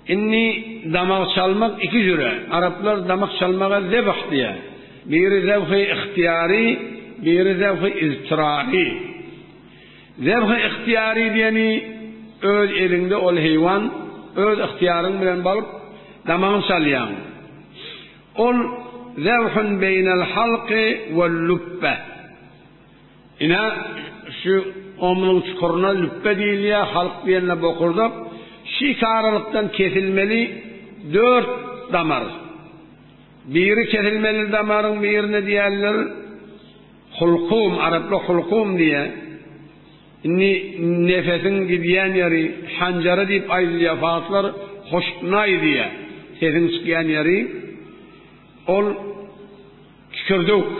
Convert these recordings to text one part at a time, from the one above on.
Indi damak çalmak iki jüre. Araplar damak çalmaga zebh diýýär. Biri zebh-i yhtyýary, biri zebh-i iztirari. Zebh-i yhtyýary diýeni, öz eliňde ol heýwan, öz yhtyýaryň bilen baryp, damagyny çalýaň. Ol zebhun beýnel halky wel lübbe. Ine, şu omluň çukuryna lüpbe diýilýär, halk diýende bokurdak. Şu iki aralykdan kesilmeli dört damar. Biri kesilmeli damaryň birine diýerler hulkum, araplar hulkum diýýär. Indi nefesiň gidýän ýeri, hanjary diýip aýdylýar, farslar hoşknaý diýýär, sesiň çykýan ýeri. Ol kikirdewk.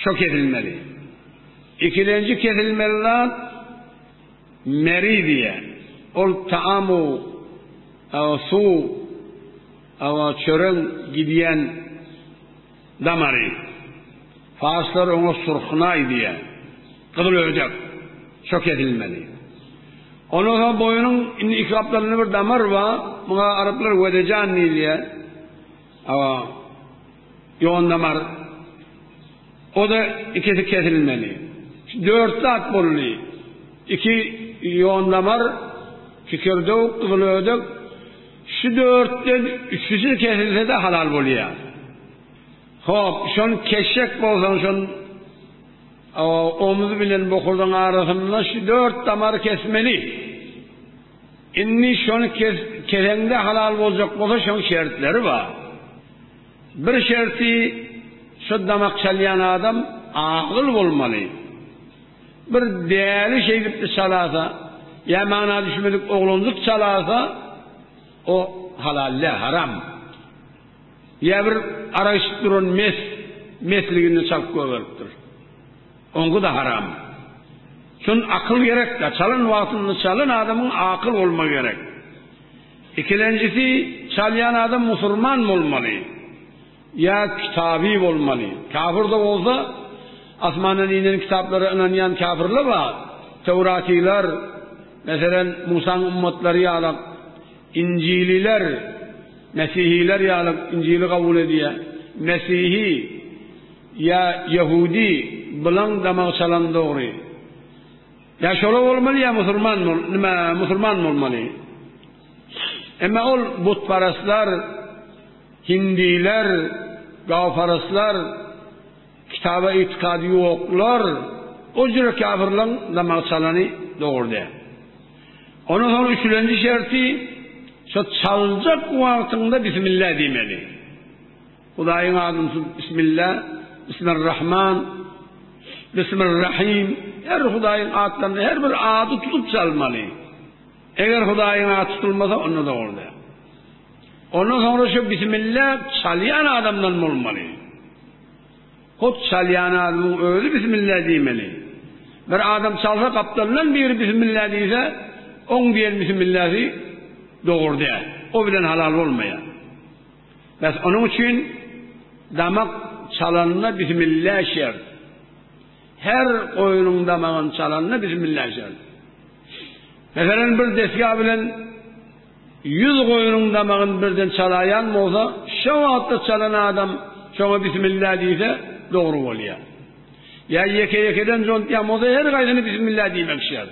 Şo kesilmeli. Ikilenji kesilmeli zat meridiýa. Ol taamyň, awa suwuň, awa çöregiň gidýän damary. Farslar oňa surhnaý diýýär. Gyzyl öýjek. Şo kesilmeli. Ondan soň boýnuň indi iki gapdalynda bir damar bar. Muňa araplar wedejan diýilýär. Awa. Ýon damar oda ikisi kesilmeli. Dört zat bolly. Iki ýon damar, kikirdewük, gyzyl ödek. Şu dörtden üçüsi kesilsede halal bolýar. Hop, şon keşek bolsaň şon omuz bilen bokurdaň arasynda şu dört damary kesmeli. Indi şony kes, keseňde halal boljak bolsa şoň şertleri bar. Bir şerti şu damak çalýan adam agyl bolmaly. Bir däli şeýdipdi çalasa, ýa mana düşmedik oglanjyk çalasa, o halal däl, haram. Ýa bir arak içip duran mes, mesliginde çalyp goýberipdir. Oňa-da haram. Şun akyl gerek-dä, çalan wagtynda çalan adamyň akyl bolmagy gerek. Ikilenjisi, çalýan adam musurman bolmaly. Ýa kitaby bolmaly. Kafir-de bolsa, asmandan inen kitaplara ynanýan kafirler bar. Töwratylar, meselem, Musaň ümmatlary ýaly, injililer, mesihiler ýaly, injili kabul edýär. Mesihi. Ýa ýahudi bilaň damak çalan dogry. Ýa şola bolmaly ýa musulman bol nime musulman bolmaly. Emma ol butparastlar hindiler gawparastlar kitaba itikady ýoklar o jüri kafirlaň damak çalany dogry däl. Ondan soň üçlenji şerti şo çaljak wagtyňda bismillah diýmeli. Hudaýyň adyny tutup Bismilla, Bismirrahman, Bismirrahim, her Hudaýyň atlaryny her bir ady tutup çalmaly. Eger Hudaýyň ady tutulmasa onda dogry däl. Ondan soňra şu Bismilla çalýan adamdan bolmaly. Hut çalýan adamyň özi Bismilla diýmeli. Bir adam çalsa gapdalyndan biri Bismilla diýse, oň diýen Bismillasy dogry däl. O bilen halal bolmaýar. Bäs onuň üçin damak çalanda bismilla şert. Her goýnuň damagyny çalanda bismilla şert. Meselem bir desga bilen 100 goýnuň damagyny birden çalaýan bolsa, şo wagtda çalan adam şoňa bismilla diýse dogry bolýar. Ýa ýeke-ýekeden jontýan bolsa her gaýsyny bismilla diýmek şert.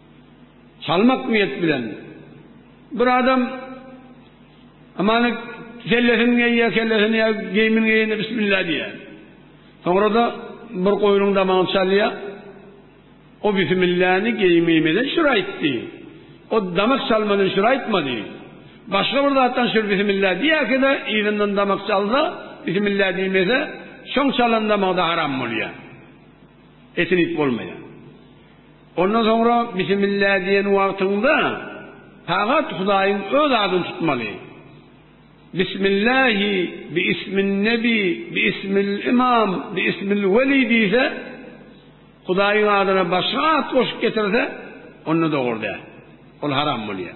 Salmak niýet bilen. Bir adam amany kellesini geýýär, kellesini ýa geýimini geýende bismillah diýýär. Soňra-da bir goýnuň damagyny çalýar. O bismillany geýimimize şir aýtdy. O damak çalmadan şir aýtmady. Başga bir zatdan şir bismillah diýerkä-de yzyndan damak çalsa, bismillah diýmese, şoň çalan damagy-da haram bolýar. Etini iýip bolmaýar. Ondan soňra Bismillah diýen wagtyňda pagat Hudaýyň öz adyny tutmaly. Bismillahi, biismin nebi, biismil imam, biismil weli diýse, Hudaýyň adyna başga at goşup getirse, onda dogry däl. Ol haram bolýar.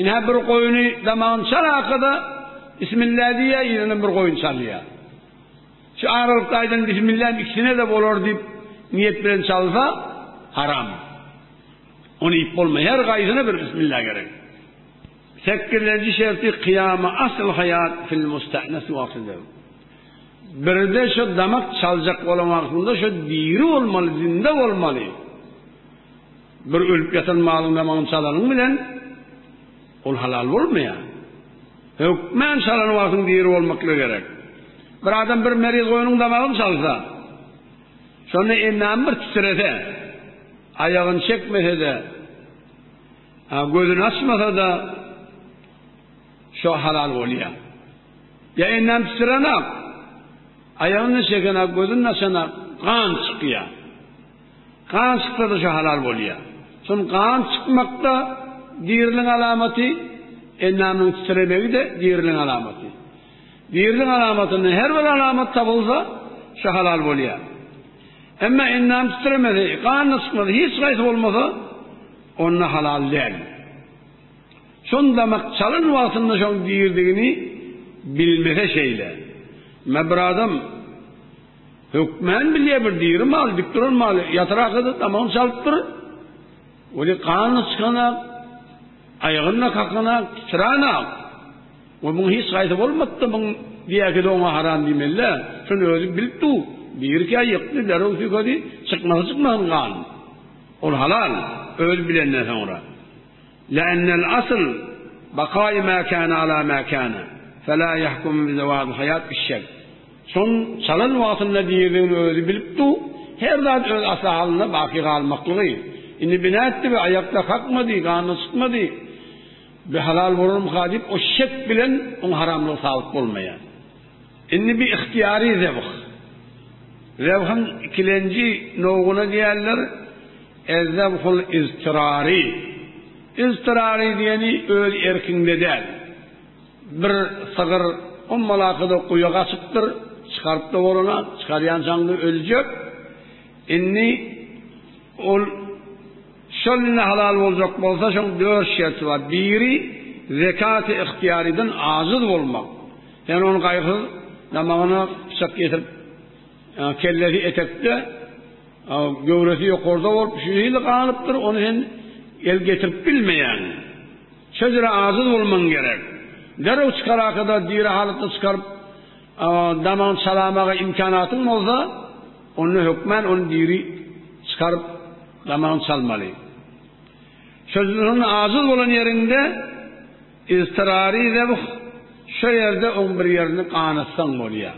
Ine bir goýny damagyny çal arkada Bismillah diýýär, ýene bir goýny çalýar. Şu aralykda aýdan Bismillah ikisine-de bolar diýip niýet bilen çalsa, haram. Ony iýip bolmaýar, her gaýsyna bir Bismillah gerek. Sekizlenji şerti kyýama asyl haýat fil mustahnas wagtyda. Birde şu damak çaljak bolan wagtynda şu diri bolmaly, zinde bolmaly. Bir ölüp ýatan malyň damagyny çalanyň bilen, ol halal bolmaýar. Hökmän çalan wagtyň diri bolmaklygy gerek. Bir adam bir meriz goýnuň damagyny çalsa, şonda endamy bir titrese, aýagyny çekmese-de, gözüni açmasa-da, şo halal bolýar. Ýa endamy titrenok, aýagyny çekenak, gözüni açanak gan çykýar. Gan çykdyrdyşa halal bolýar. Şol gan çykmak-da diriligiň alamaty, endamynyň titremegi-de diriligiň alamaty. Diriligiň alamatyndan her bir alamat tapylsa, şo halal bolýar. Emma endam titremesi, gan-da çykmasy, hiç haýsy bolmasa, onda halal däl. Şony damak çalan wagtynda şoň diridigini bilmese şeýle. Emma bir adam. Hökman bilýär bir diri mal, dik duran mal, ýatyr arkada damagyny çalypdyr. Weli ganyny çykanak, aýagyny kakanak, titranak. We muň hiç haýsy bolmapdy, muň diýäki de oňa haram diýmelidä. Şony özi bilip dur. Birkä ýykdy, derrew süýkedi, çykmasy çykmasyn gan. Ol halal, özi bilenden soňra. Lennel asl bakaý mäkana ala mäkana. Fela yahkum bi zawad hayat işşek. Şol çalan wagtynda diridigini özi bilip du, her zat öz asly halynda baky galmaklygy. Indi bina etdi we aýakda kakmady, ganyna çykmady. Bi halal bolarmyka diýip o şek bilen oň haramlygy sabyt bolmaýar. Indi bi ihtiýary zebh. Zebhiň ikilenji nowgyna diýerler ez-zebhul iztirari. Iztirari diýeni öz erkiňde däl. Bir sygyr ommalakada guýa gaçypdyr, çykaryp-da bolana, çykarýançaňda öljek. Indi ol şol indi halal boljak bolsa, şoň dört şerti bar. Biri, zekaty ygtyýarydan ajyz bolmak. Sen ony gaýgysyz damagyna pyçak ýetirip, kellesi etekde, göwresi ýokarda bolup, şu hili galypdyr, ony sen el getirip bilmeýäň. Şeýdire aciz bolmaň gerek. Derrew çykaraka-da diri halatda çykaryp, damagyny çalamaga imkanatyň bolsa, onda hökmän ony diri çykaryp, damagyny çalmaly. Şeýdire aciz bolan ýeriňde iztirari zebh, şo ýerde oň bir ýerini ganatsaň bolýar.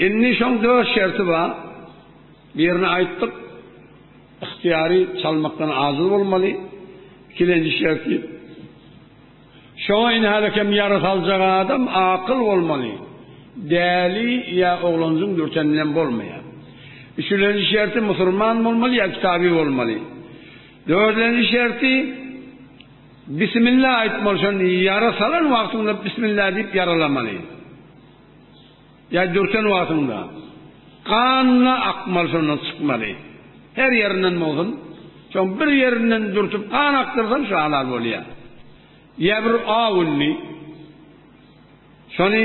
Indi şoň dört şerti bar. Birini aýtdyk. Ygtyýary çalmakdan ajiz bolmaly. Ikilenji şerti, şoňa indi hälikem ýary saljak adam akyl bolmaly. Däli ýa oglanjyň dürten bilen bolmaýar. Üçülenji şerti musurman bolmaly ýa kitaby bolmaly. Dördenji şerti, Bismillah aýtmaly şony ýara salan wagtyňda Bismillah diýip ýaralamaly. Ýa dürten wagtyňda, ganyna akmaly şondan çykmaly. Her ýerinden bolsun, şoň bir ýerinden dürtüp gan akdyrsaň şo halal bolýa. Ýa bir aw indi, şony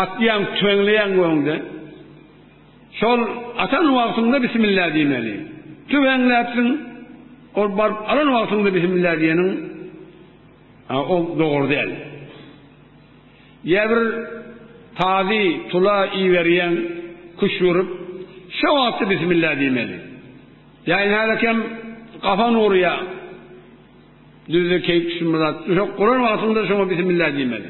atýaň, tüweňleýäň göwünde. Şol atan wagtyňda bismillah diýmeli. Tüweňläpsiň, ol baryp alan wagtyňda bismillah diýeniň, ol dogry däl. Ýa bir tazy tula iberýäň, küşt urup, şo wagty bismillah diýmeli. Ýa nälekem gapan urýaň, düzde keýik şumlap, düşek guran wagtyňda şoňa bismillah diýmeli.